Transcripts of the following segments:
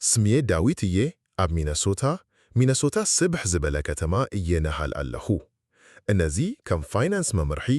ስምየ ዳዊት እየ ኣብ ሚነሶታ ሚነሶታ ስብሕ ዝበለ ከተማ እየ ነሃል ኣለኹ እነዚ ከም ፋይናንስ መምርሒ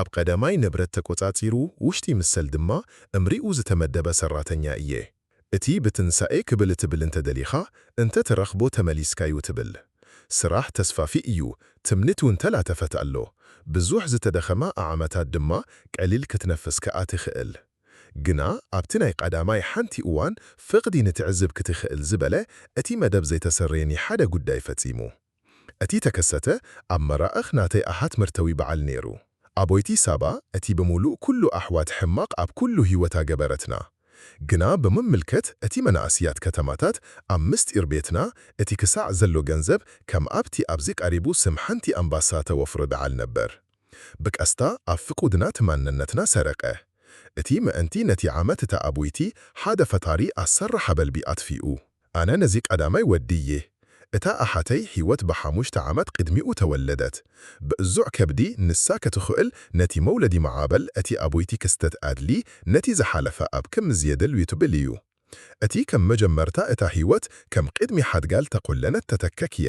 ኣብ ቐዳማይ ንብረት ተቆጻጺሩ ውሽጢ ምሰል ድማ እምሪኡ ዝተመደበ ሰራተኛ እየ እቲ ብትንሳኤ ክብል ትብል እንተደሊኻ እንተ ትረኽቦ ተመሊስካዩ ትብል ስራሕ ተስፋፊ እዩ ትምኒት ውን ተላተፈት ኣሎ ብዙሕ ዝተደኸማ ኣዓመታት ድማ ቀሊል ክትነፍስ ከኣ ትኽእል ግና ኣብቲ ናይ ቐዳማይ ሓንቲ እዋን ፍቕዲ ንትዕዝብ ክትኽእል ዝበለ እቲ መደብ ዘይተሰረየኒ ሓደ ጉዳይ ፈጺሙ እቲ ተከሰተ ኣብ መራእኽ ናተይ ኣሃት መርተዊ በዓል ነይሩ ኣቦይቲ ሳባ እቲ ብምሉእ ኩሉ ኣሕዋት ሕማቕ ኣብ ኩሉ ህይወታ ገበረትና ግና ብምምልከት እቲ መናእስያት ከተማታት ኣብ ምስጢር ቤትና እቲ ክሳዕ ዘሎ ገንዘብ ከም ኣብቲ ኣብዚ ቀሪቡ ስም ሓንቲ ኣምባሳ ተወፍሮ ደዓል ነበር ብቀስታ ኣብ ፍቁድና ትማነነትና ሰረቀ። እቲ መእንቲ ነቲ ዓመት እታ ኣቡይቲ ሓደ ፈጣሪ ኣሰራ ሓበልቢ ኣትፊኡ። ኣነ ነዚ ቀዳማይ ወዲ እየ። እታ ኣሓተይ ሂወት ብሓሙሽተ ዓመት ቅድሚኡ ተወለደት። ብእዙዕ ከብዲ ንሳ ከትኹእል ነቲ መውለዲ ማዓበል እቲ ኣቡይቲ ክስተት ኣድሊ ነቲ ዝሓለፈ ኣብ ክምዚ የድል ዩትብል እዩ። እቲ ከም መጀመርታ እታ ሂወት ከም ቅድሚ ሓድጋል ተቆለነት ተተከክየ።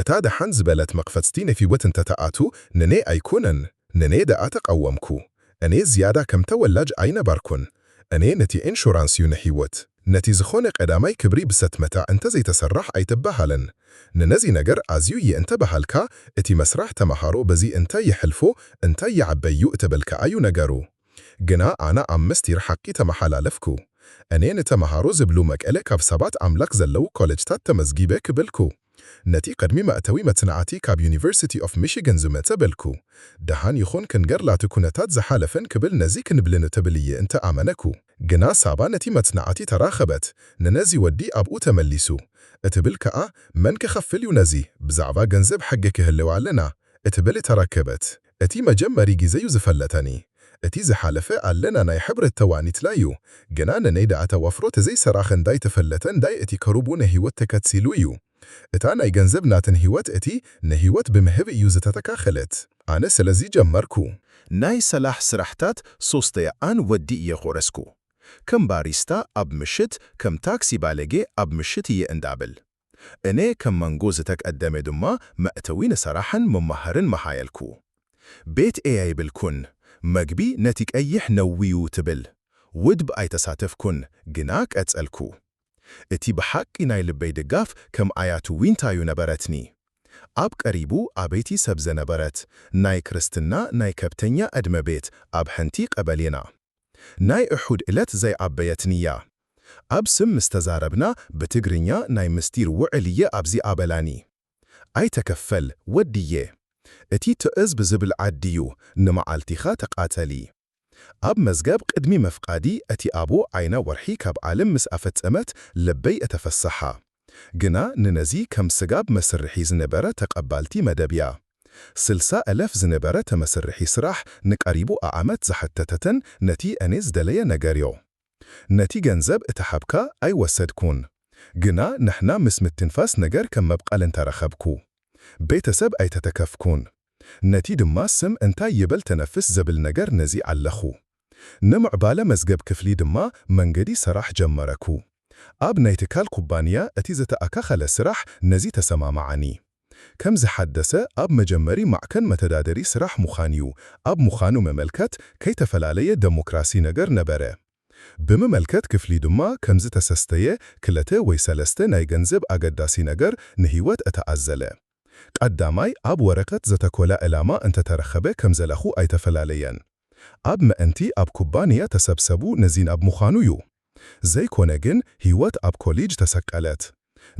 እታ ደሓን ዝበለት መቕፈጽቲ ነፊወት እንተ ተኣቱ ንኔ ኣይኩነን ንኔ ደኣ ተቓወምኩ እኔ ዝያዳ ከም ተወላጅ ኣይነባርኩን እኔ ነቲ ዒንሹራንስዩ ንሒወት ነቲ ዝኾነ ቀዳማይ ክብሪ ብሰትመታ እንተ ዘይተሰራሕ ኣይትበሃልን ንነዚ ነገር ኣዝዩ እየ እንተ በሃልካ እቲ መስራሕ ተመሃሮ በዚ እንታይ የሕልፎ እንታይ ይዓበዩ እተበልካኣዩ ነገሩ ግና ኣነ ኣብ ምስቲር ሓቂ ተመሓላለፍኩ። እኔ ንተመሃሮ ዝብሉ መቀለ ካብ ሰባት ኣምላክ ዘለዉ ኮለጅታት ተመዝጊበ ክብልኩ። ነቲ ቅድሚ መእተዊ መጽናዕቲ ካብ ዩኒቨርሲቲ ኦፍ ሚሽገን ዝመጸ በልኩ። ደሃን ይኹን ክንገር ላቲ ኩነታት ዝሓለፈን ክብል ነዚ ክንብልኒ ትብል እየ እንተ ኣመነኩ። ግና ሳባ ነቲ መጽናዕቲ ተራከበት ንነዚ ወዲ ኣብኡ ተመሊሱ እትብል ከኣ መን ክከፍል እዩ ነዚ ብዛዕባ ገንዘብ ሕጊ ክህልው ኣለና እትብል ተራከበት። እቲ መጀመሪ ግዜ ዩ ዝፈለተኒ እቲ ዝሓለፈ ኣለና ናይ ሕብረት ተዋኒትና ዩ ግና ንነይ ዳኣ ተወፍሮ ተዘይ ሰራክ እንዳይ ተፈለተ እንዳይ እቲ ከሩቡ ነሂወት ተከትሲሉ ዩ እታ ናይ ገንዘብ ናትን ሂወት እቲ ንሂወት ብምህብ እዩ ዝተተካከለት ኣነ ሰለዚ ጀመርኩ ናይ ሰላሕ ስራሕታት ሶስተያ ኣን ወዲ እየ ኮረስኩ ከም ባሪስታ ኣብ ምሽት ከም ታክሲ ባለጌ ኣብ ምሽት እየ እንዳብል። እኔ ከም መንጎ ዝተቀደሜ ድማ መእተዊ ንሰራሕን መማህርን መሃየልኩ። ቤት ኤይ ኣይብልኩን፣ መግቢ ነቲ ቀይሕ ነውዩ ትብል ውድብ ኣይተሳተፍኩን ግና ቀጸልኩ። እቲ ብሓቂ ናይ ልበይ ድጋፍ ከም ኣያቱ ዊንታዩ ነበረትኒ። ኣብ ቀሪቡ ኣበይቲ ሰብ ዘነበረት ናይ ክርስትና ናይ ከብተኛ ዕድመ ቤት ኣብ ሐንቲ ቀበሌና። ናይ እሑድ እለት ዘይኣበየትኒ'ያ። ኣብ ስም ምስ ተዛረብና ብትግርኛ ናይ ምስጢር ውዕል እየ ኣብዚ ኣበላኒ። ኣይተከፈል ወዲየ። እቲ ትዕዝብ ዝብል ዓዲ'ዩ ንመዓልቲኻ ተቃተሊ። ኣብ መዝገብ ቅድሚ ምፍቃዲ እቲ ኣቡ ዓይና ወርሒ ካብ ዓልም ምስ ኣፈጸመት ልበይ እተፈሰሓ። ግና ንነዚ ከም ስጋብ መስርሒ ዝነበረ ተቀባልቲ መደብ እያ። ስልሳ እለፍ ዝነበረ ተመስርሒ ስራሕ ንቀሪቡ ኣኣመት ዝሓተተትን ነቲ እኔ ዝደለየ ነገርዮ። ነቲ ገንዘብ እተ ሓብካ ኣይ ወሰድኩን። ግና ንሕና ምስ ምትንፋስ ነገር ከም መብቐል እንተ ረኸብኩ። ቤተሰብ ኣይተተከፍኩን። ነቲ ድማ ስም እንታይ ይበል ተነፍስ ዘብል ነገር ነዚ ኣለኹ። ንምዕባለ መዝገብ ክፍሊ ድማ መንገዲ ሰራሕ ጀመረኩ። ኣብ ናይ ትካል ኩባንያ እቲ ዘተኣካኸለ ስራሕ ነዚ ተሰማማዓኒ። ከም ዝሓደሰ ኣብ መጀመሪ ማዕከን መተዳደሪ ስራሕ ምዃንዩ። ኣብ ምዃኑ መመልከት ከይተፈላለየ ደሞክራሲ ነገር ነበረ። ብምመልከት ክፍሊ ድማ ከም ዝተሰስተየ ክለተ ወይ ሰለስተ ናይ ገንዘብ ኣገዳሲ ነገር ንህይወት እተኣዘለ። ቀዳማይ ኣብ ወረቀት ዘተኮላ እላማ እንተተረኸበ ከም ዘለኹ ኣይተፈላለየን። ኣብ መእንቲ ኣብ ኩባንያ ተሰብሰቡ ንዚን ኣብ ምዃኑ ዩ። ዘይኮነ ግን ሂወት ኣብ ኮሊጅ ተሰቀለት።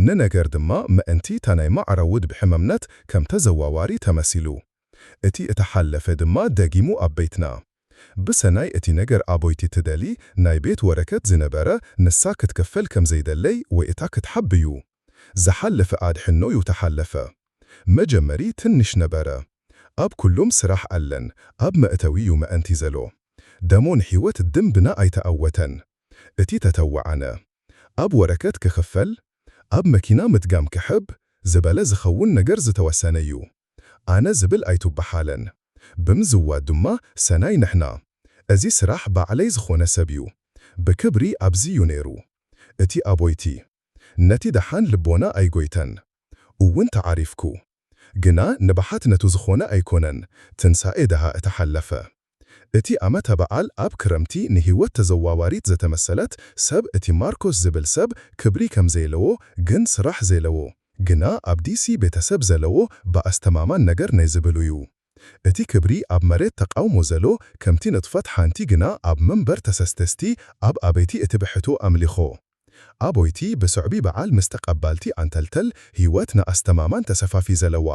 ንነገር ድማ መእንቲ እታ ናይ ማዕረ ውድብ ሕመምነት ከም ተዘዋዋሪ ተመሲሉ። እቲ እታ ሓለፈ ድማ ደጊሙ ኣብ ቤትና። ብሰናይ እቲ ነገር ኣቦይቲ ትደሊ ናይ ቤት ወረከት ዝነበረ ንሳ ክትከፈል ከም ዘይደለይ ወይ እታ ክትሓብ ዩ። ዝሓለፈ ኣድሕኖ ዩ ተሓለፈ መጀመሪ ትንሽ ነበረ ኣብ ኩሉም ስራሕ ኣለን ኣብ መእተዊ ዩ መእንቲ ዘሎ ደሞ ንሕይወት ድምብና ኣይተኣወተን እቲ ተተወዓነ ኣብ ወረከት ክክፈል ኣብ መኪና ምድጋም ክሕብ ዝበለ ዝከውን ነገር ዝተወሰነ ዩ ኣነ ዝብል ኣይቱበሓለን ብምዝዋድ ድማ ሰናይ ንሕና እዚ ስራሕ ባዕለይ ዝኮነ ሰብ ዩ ብክብሪ ኣብዚ ዩ ነይሩ እቲ ኣቦይቲ ነቲ ደሓን ልቦና ኣይጎይተን እውን ተዓሪፍኩ ግና ንብሓት ነቱ ዝኾነ ኣይኮነን ትንሳኤ ደሃ እቲ ሓለፈ እቲ ኣመተ በዓል ኣብ ክረምቲ ንሂወት ተዘዋዋሪት ዘተመሰለት ሰብ እቲ ማርኮስ ዝብል ሰብ ክብሪ ከምዘይለዎ ግን ስራሕ ዜለዎ ግና ኣብ ዲሲ ቤተሰብ ዘለዎ ብኣስተማማን ነገር ናይ ዝብሉዩ እቲ ክብሪ ኣብ መሬት ተቃውሞ ዘሎ ከምቲ ንጥፈት ሓንቲ ግና ኣብ መንበር ተሰስተስቲ ኣብ ኣበይቲ እቲ ብሕቱ ኣምሊኾ ኣቦይቲ ብስዕቢ በዓል ምስ ተቀባልቲ ኣንተልተል ህይወት ንኣስተማማን ተሰፋፊ ዘለዋ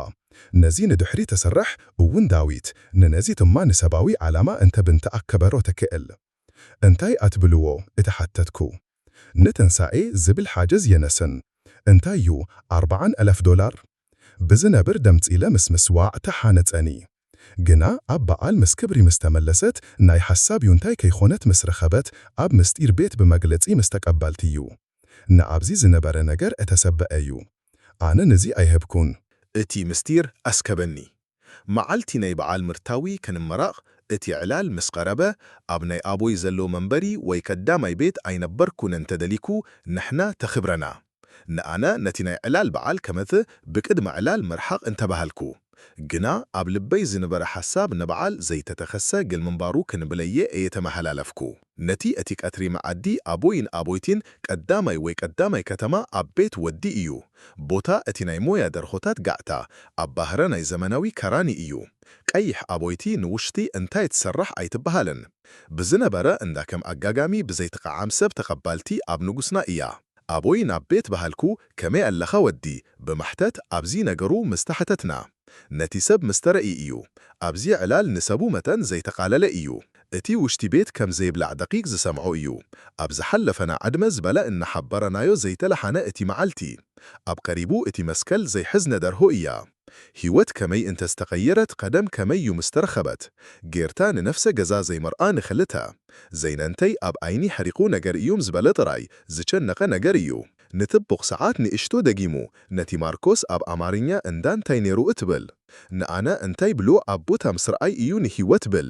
ነዚ ንድሕሪ ተስራሕ እውን ዳዊት ንነዚ ትማ ንሰባዊ ዓላማ እንተ ብንተ ኣከበሮ ተክእል እንታይ ኣትብልዎ እቲ ሓተትኩ ንትንሳኤ ዝብል ሓጀዝ የነስን እንታይ እዩ ኣርባዓን ኣላፍ ዶላር ብዝነብር ደምጺለ ምስ ምስዋዕ ተሓነጸኒ ግና ኣብ በዓል ምስ ክብሪ ምስ ተመለሰት ናይ ሓሳብ ዩንታይ ከይኮነት ምስ ረከበት ኣብ ምስጢር ቤት ብመግለጺ ምስ ተቀበልትዩ ንኣብዚ ዝነበረ ነገር እተሰበ ኣዩ ኣነ ንዚ ኣይሀብኩን እቲ ምስጢር ኣስከበኒ። መዓልቲ ናይ በዓል ምርታዊ ክንመረቕ እቲ ዕላል ምስ ቐረበ፣ ኣብ ናይ ኣቦይ ዘሎ መንበሪ ወይ ከዳማይ ቤት ኣይነበርኩን እንተ ደሊኩ ንሕና ተክብረና። ንኣነ ነቲ ናይ ዕላል በዓል ከመት ብቅድመ ዕላል ምርሓቕ እንተ በሃልኩ። ግና ኣብ ልበይ ዝንበረ ሓሳብ ንበዓል ዘይተተኸሰ ግል ምንባሩ ክንብለዬ እየ ተመሃላለፍኩ። ነቲ እቲ ቀትሪ መኣዲ ኣቦይን ኣቦይቲን ቀዳማይ ወይ ቀዳማይ ከተማ ኣብ ቤት ወዲ እዩ። ቦታ እቲ ናይ ሞያ ደርሆታት ጋዕታ፣ ኣብ ባህረ ናይ ዘመናዊ ከራኒ እዩ። ቀይሕ ኣቦይቲ ንውሽቲ እንታይ ትሰራሕ ኣይትበሃልን። ብዝነበረ እንዳ ከም ኣጋጋሚ ብዘይትቐዓም ሰብ ተቐባልቲ ኣብ ንጉስና እያ። ኣቦይ ናብ ቤት በሃልኩ ከመይ ኣለኻ ወዲ ብማሕተት ኣብዚ ነገሩ ምስ ተሓተትና። ነቲ ሰብ ምስ ተረእይ እዩ። ኣብዚ ዕላል ንሰቡ መጠን ዘይተቓለለ እዩ። እቲ ውሽቲ ቤት ከም ዘይብላዕ ደቂቅ ዝሰምዖ እዩ። ኣብ ዝሓለፈና ዕድመ ዝበለ እናሓበረናዮ ዘይተለሓነ እቲ መዓልቲ። ኣብ ቀሪቡ እቲ መስከል ዘይሕዝነ ደርሆ እያ። ህይወት ከመይ እንተ ዝተቀየረት ቀደም ከመይ እዩ ምስ ተረኸበት። ጌርታ ንነፍሰ ገዛ ዘይመርኣ ንክልተ። ዘይነንተይ ኣብ ኣይኒ ሕሪቁ ነገር እዩም ዝበለ ጥራይ ዝጨነቀ ነገር እዩ። ንትቡቅ ሰዓት ንእሽቶ ደጊሙ ነቲ ማርኮስ ኣብ ኣማርኛ እንዳ እንታይ ነይሩ እትብል። ንኣና እንታይ ብሉዕ ኣብ ቦታ ምስ ረኣይ እዩ ንህይወት ብል።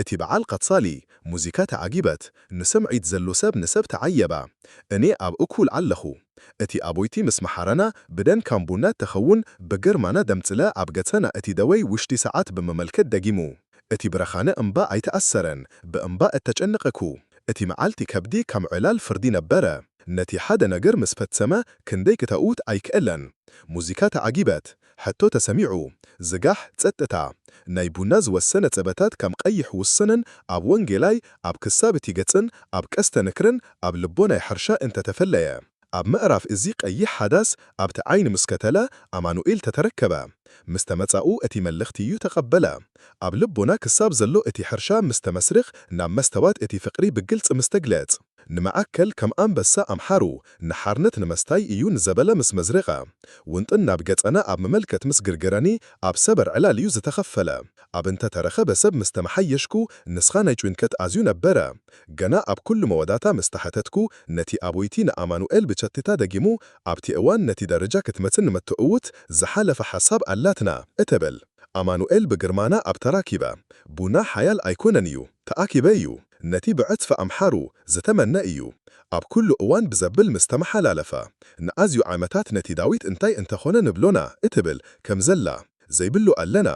እቲ በዓል ቐጻሊ ሙዚካ ተዓጊበት ንሰምዒት ዘሉ ሰብ ንሰብ ተዓየባ እኔ ኣብ እኩል ዓለኹ እቲ ኣቦይቲ ምስ መሓረና ብደን ካም ቡና ተኸውን ብግርማና ደምጽለ ኣብ ገጸና እቲ ደወይ ውሽቲ ሰዓት ብምመልከት ደጊሙ እቲ ብረኻነ እምባ ኣይተኣሰረን ብእምባ እተጨነቐኩ እቲ መዓልቲ ከብዲ ካም ዕላል ፍርዲ ነበረ ነቲ ሓደ ነገር ምስ ፈትሰመ ክንደይ ክተእውት ኣይክእለን ሙዚካ ተዓጊበት ሕቶ ተሰሚዑ ዝጋሕ ጸጥታ ናይ ቡና ዝወሰነ ጸበታት ከም ቐይሕ ውሱንን ኣብ ወንጌላይ ኣብ ክሳብ እቲ ገጽን ኣብ ቀስተ ንክርን ኣብ ልቦናይ ሕርሻ እንተ ተፈለየ ኣብ ምዕራፍ እዚ ቀይሕ ሓዳስ ኣብቲ ዓይኒ ምስ ከተለ ኣማኑኤል ተተረከበ ምስ ተመጻኡ እቲ መልኽቲ እዩ ተቐበለ ኣብ ልቦና ክሳብ ዘሎ እቲ ሕርሻ ምስ ተመስርኽ ናብ መስተዋት እቲ ፍቕሪ ብግልጽ ምስ ተግለጽ ንመኣከል ከም ኣንበሳ ኣምሓሩ ንሓርነት ንምስታይ እዩ ንዘበለ ምስ መዝረቐ ውንጥን ናብ ገጸነ ኣብ ምመልከት ምስ ግርገረኒ ኣብ ሰበር ዕላል እዩ ዝተኸፈለ ኣብ እንተ ተረኸበ ሰብ ምስ ተመሓየሽኩ ንስኻ ናይ ጭንቀት ኣዝዩ ነበረ ገና ኣብ ኩሉ መወዳታ ምስ ተሓተትኩ ነቲ ኣቦይቲ ንኣማኑኤል ብቸትታ ደጊሙ ኣብቲ እዋን ነቲ ደረጃ ክትመጽ ንመተእውት ዝሓለፈ ሓሳብ ኣላትና እተብል ኣማኑኤል ብግርማና ኣብ ተራኪበ ቡና ሓያል ኣይኮነን እዩ ተኣኪበ እዩ ነቲ ብዕጽፊ ኣምሓሩ ዝተመነ እዩ ኣብ ኩሉ እዋን ብዘብል ምስ ተመሓላለፈ ንኣዝዩ ዓመታት ነቲ ዳዊት እንታይ እንተ ኾነ ንብሎና እትብል ከም ዘላ ዘይብሉ ኣለና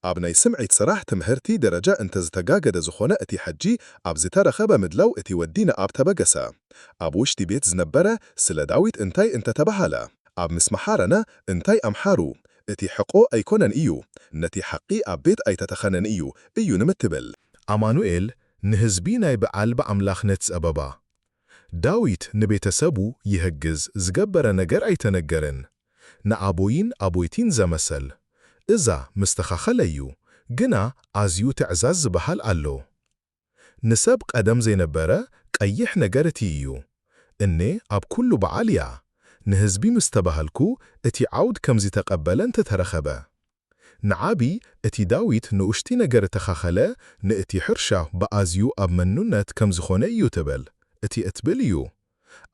ኣብ ናይ ስምዒት ስራሕ ትምህርቲ ደረጃ እንተ ዝተጋገደ ዝኾነ እቲ ሕጂ ኣብ ዝተረኸበ ምድላው እቲ ወዲ ንኣብ ተበገሰ ኣብ ውሽቲ ቤት ዝነበረ ስለ ዳዊት እንታይ እንተ ተባሃለ ኣብ ምስ መሓረና እንታይ ኣምሓሩ እቲ ሕቆ ኣይኮነን እዩ ነቲ ሓቒ ኣብ ቤት ኣይተተኸነን እዩ እዩ ንምትብል። ኣማኑኤል ንህዝቢ ናይ ብዓል ብኣምላኽነት ጸበባ። ዳዊት ንቤተ ሰቡ ይህግዝ ዝገበረ ነገር ኣይተነገርን ንኣቦይን ኣቦይቲን ዘመሰል። እዛ ምስተኻኸለ እዩ ግና ኣዝዩ ትዕዛዝ ዝበሃል ኣሎ። ንሰብ ቀደም ዘይነበረ ቀይሕ ነገር እቲ እዩ። እኔ ኣብ ኩሉ በዓል እያ። ንህዝቢ ምስ ተባህልኩ እቲ ዓውድ ከምዚ ተቀበለ እንተ ተረኸበ። ንዓቢ እቲ ዳዊት ንኡሽቲ ነገር እተኻኸለ ንእቲ ሕርሻ ብኣዝዩ ኣብ መኑነት ከም ዝኾነ እዩ ትብል። እቲ እትብል እዩ።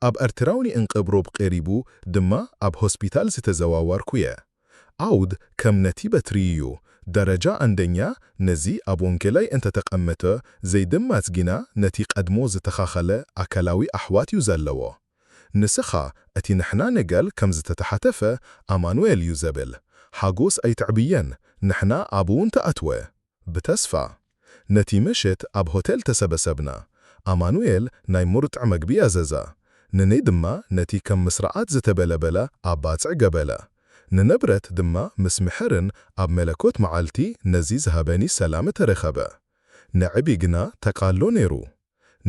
ኣብ ኣርትራውኒ እንቅብሩብ ቄሪቡ ድማ ኣብ ሆስፒታል ዝተዘዋዋርኩየ ዓውድ ከም ነቲ በትሪይዩ ደረጃ ኣንደኛ ነዚ ኣብ ወንጌላይ እንተ ተቀመተ ዘይድማጽ ጊና ነቲ ቀድሞ ዝተኻኸለ ኣካላዊ ኣሕዋት ዩ ዘለዎ ንስኻ እቲ ንሕና ንገል ከም ዝተተሓተፈ ኣማኑኤል ዩ ዘብል ሓጎስ ኣይተዕብየን ንሕና ኣብኡ እንተ ኣትወ ብተስፋ ነቲ መሸት ኣብ ሆቴል ተሰበሰብና። ኣማኑኤል ናይ ሙርጥዕ መግቢ ኣዘዛ። ንኔ ድማ ነቲ ከም ምስራኣት ዝተበለበለ ኣብ ባጽዕ ገበለ። ንነብረት ድማ ምስ ምሕርን ኣብ መለኮት መዓልቲ ነዚ ዝሃበኒ ሰላመ ተረከበ። ንዕቢ ግና ተቃሎ ነይሩ።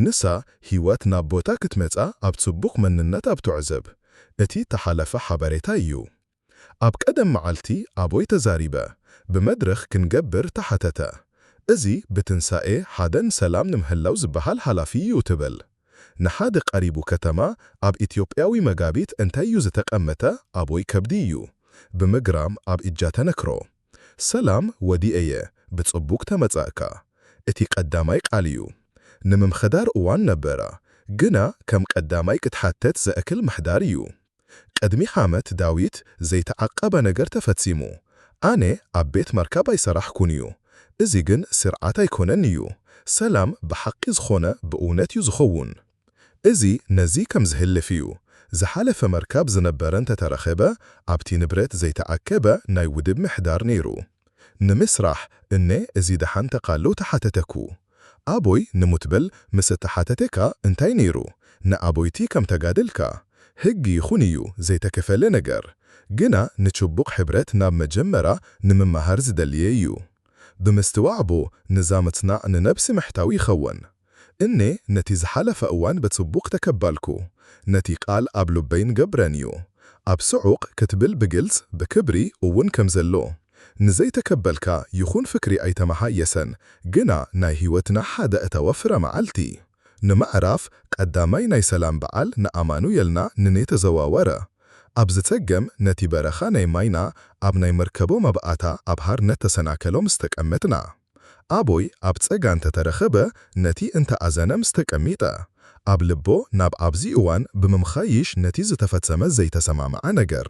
ንሳ ህይወት ናብ ቦታ ክትመጻ ኣብ ጽቡቅ መንነት ኣብ ትዕዘብ። እቲ ተሓለፈ ሓበሬታ እዩ። ኣብ ቀደም መዓልቲ ኣቦይ ተዛሪበ ብመድረኽ ክንገብር ተሓተተ እዚ ብትንሳኤ ሓደ ንሰላም ንምህላው ዝበሃል ሃላፊ እዩ ትብል ንሓደ ቀሪቡ ከተማ ኣብ ኢትዮጵያዊ መጋቢት እንታይ እዩ ዝተቀመተ ኣቦይ ከብዲ እዩ ብምግራም ኣብ እጃ ተነክሮ ሰላም ወዲኤየ ብጽቡግ ተመጻእካ እቲ ቀዳማይ ቃል እዩ ንምምሕዳር እዋን ነበረ ግና ከም ቀዳማይ ክትሓተት ዘእክል ምሕዳር እዩ ቅድሚ ሓመት ዳዊት ዘይተዓቀበ ነገር ተፈጺሙ ኣነ ኣብ ቤት መርካብ ኣይሰራሕኩን እዩ እዚ ግን ስርዓት ኣይኮነን እዩ ሰላም ብሓቒ ዝኾነ ብእውነት እዩ ዝኸውን እዚ ነዚ ከም ዝህልፍ እዩ ዝሓለፈ መርካብ ዝነበረ እንተተረኸበ ኣብቲ ንብረት ዘይተኣከበ ናይ ውድብ ምሕዳር ነይሩ ንምስራሕ እነ እዚ ደሓን ተቃልው ተሓተተኩ ኣቦይ ንሙት በል ምስ እተሓተቴካ እንታይ ነይሩ ንኣቦይቲ ከም ተጋደልካ ህግ ይኹን እዩ ዘይተከፈለ ነገር ግና ንችቡቅ ሕብረት ናብ መጀመራ ንምማሃር ዝደልየ እዩ ብምስትዋዕ እቦ ንዛ ምጽናዕ ንነብሲ ምሕታው ይኸወን እኔ ነቲ ዝሓለፈ እዋን ብጽቡቅ ተከባልኩ ነቲ ቃል ኣብ ሉበይን ገብረን እዩ ኣብ ስዑቅ ክትብል ብግልጽ ብክብሪ እውን ከም ዘሎ ንዘይተከበልካ ይኩን ፍክሪ ኣይተመሓየሰን ግና ናይ ሂወትና ሓደ እተወ ፍረ መዓልቲ ንምዕራፍ ቀዳማይ ናይ ሰላም በዓል ንኣማኑየልና ንኔ ተዘዋወረ ኣብ ዝተገም ነቲ በረካ ናይ ማይና ኣብ ናይ መርከቦ መብኣታ ኣብ ሃርነት ተሰናከሎ ምስ ተቀመጥና ኣቦይ ኣብ ጸጋ እንተ ተረከበ ነቲ እንተ ኣዘነ ምስ ተቀሚጠ ኣብ ልቦ ናብ ኣብዚ እዋን ብምምካይሽ ነቲ ዝተፈጸመ ዘይተሰማምዓ ነገር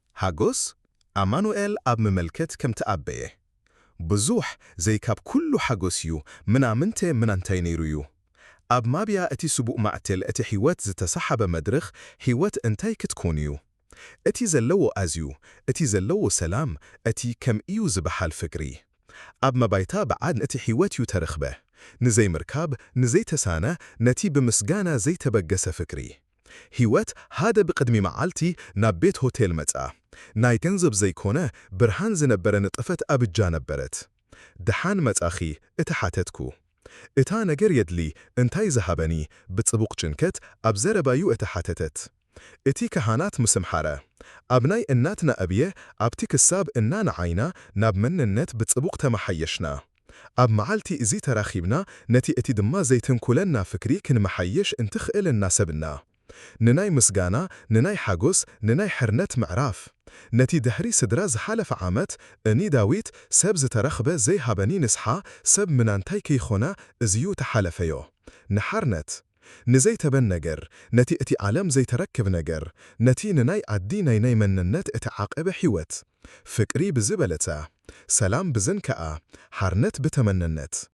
ሓጎስ ኣማኑኤል ኣብ ምመልከት ከም ተኣበየ ብዙሕ ዘይ ካብ ኩሉ ሓጎስ ዩ ምናምንተ ምናንታይ ነይሩ ዩ ኣብ ማብያ እቲ ስቡእ ማዕትል እቲ ሒወት ዝተሳሓበ መድርኽ ሒወት እንታይ ክትኮን ዩ እቲ ዘለዎ ኣዝዩ እቲ ዘለዎ ሰላም እቲ ከም እዩ ዝባሓል ፍቅሪ ኣብ መባይታ ብዓድ እቲ ሒወት ዩ ተረኽበ ንዘይ ምርካብ ንዘይ ተሳነ ነቲ ብምስጋና ዘይ ተበገሰ ፍቅሪ ሂወት ሃደ ብቅድሚ መዓልቲ ናብ ቤት ሆቴል መጽኣ ናይ ገንዘብ ዘይኮነ ብርሃን ዝነበረ ንጥፈት ኣብጃ ነበረት ድሓን መጻኺ እቲ ሓተትኩ እታ ነገር የድሊ እንታይ ዝሃበኒ ብጽቡቅ ጭንከት ኣብ ዘረባዩ እቲ ሓተተት እቲ ካሃናት ምስምሓረ ኣብ ናይ እናትና እብየ ኣብቲ ክሳብ እና ንዓይና ናብ መንነት ብጽቡቅ ተማሓየሽና ኣብ መዓልቲ እዚ ተራኺብና ነቲ እቲ ድማ ዘይትንኩለና ፍክሪ ክንመሓየሽ እንትኽእል እናሰብና ንናይ ምስጋና ንናይ ሓጎስ ንናይ ሕርነት ምዕራፍ ነቲ ድሕሪ ስድራ ዝሓለፈ ዓመት እኒ ዳዊት ሰብ ዝተረኽበ ዘይሃበኒ ንስሓ ሰብ ምናንታይ ክይኾና እዚዩ ተሓለፈዮ ንሓርነት ንዘይተበን ነገር፣ ነቲ እቲ ዓለም ዘይተረክብ ነገር፣ ነቲ ንናይ ኣዲ ናይ ናይ መነነት እቲ ዓቐበ ሒወት። ፍቅሪ ብዝበለታ። ሰላም ብዝንከኣ። ሓርነት ብተመነነት።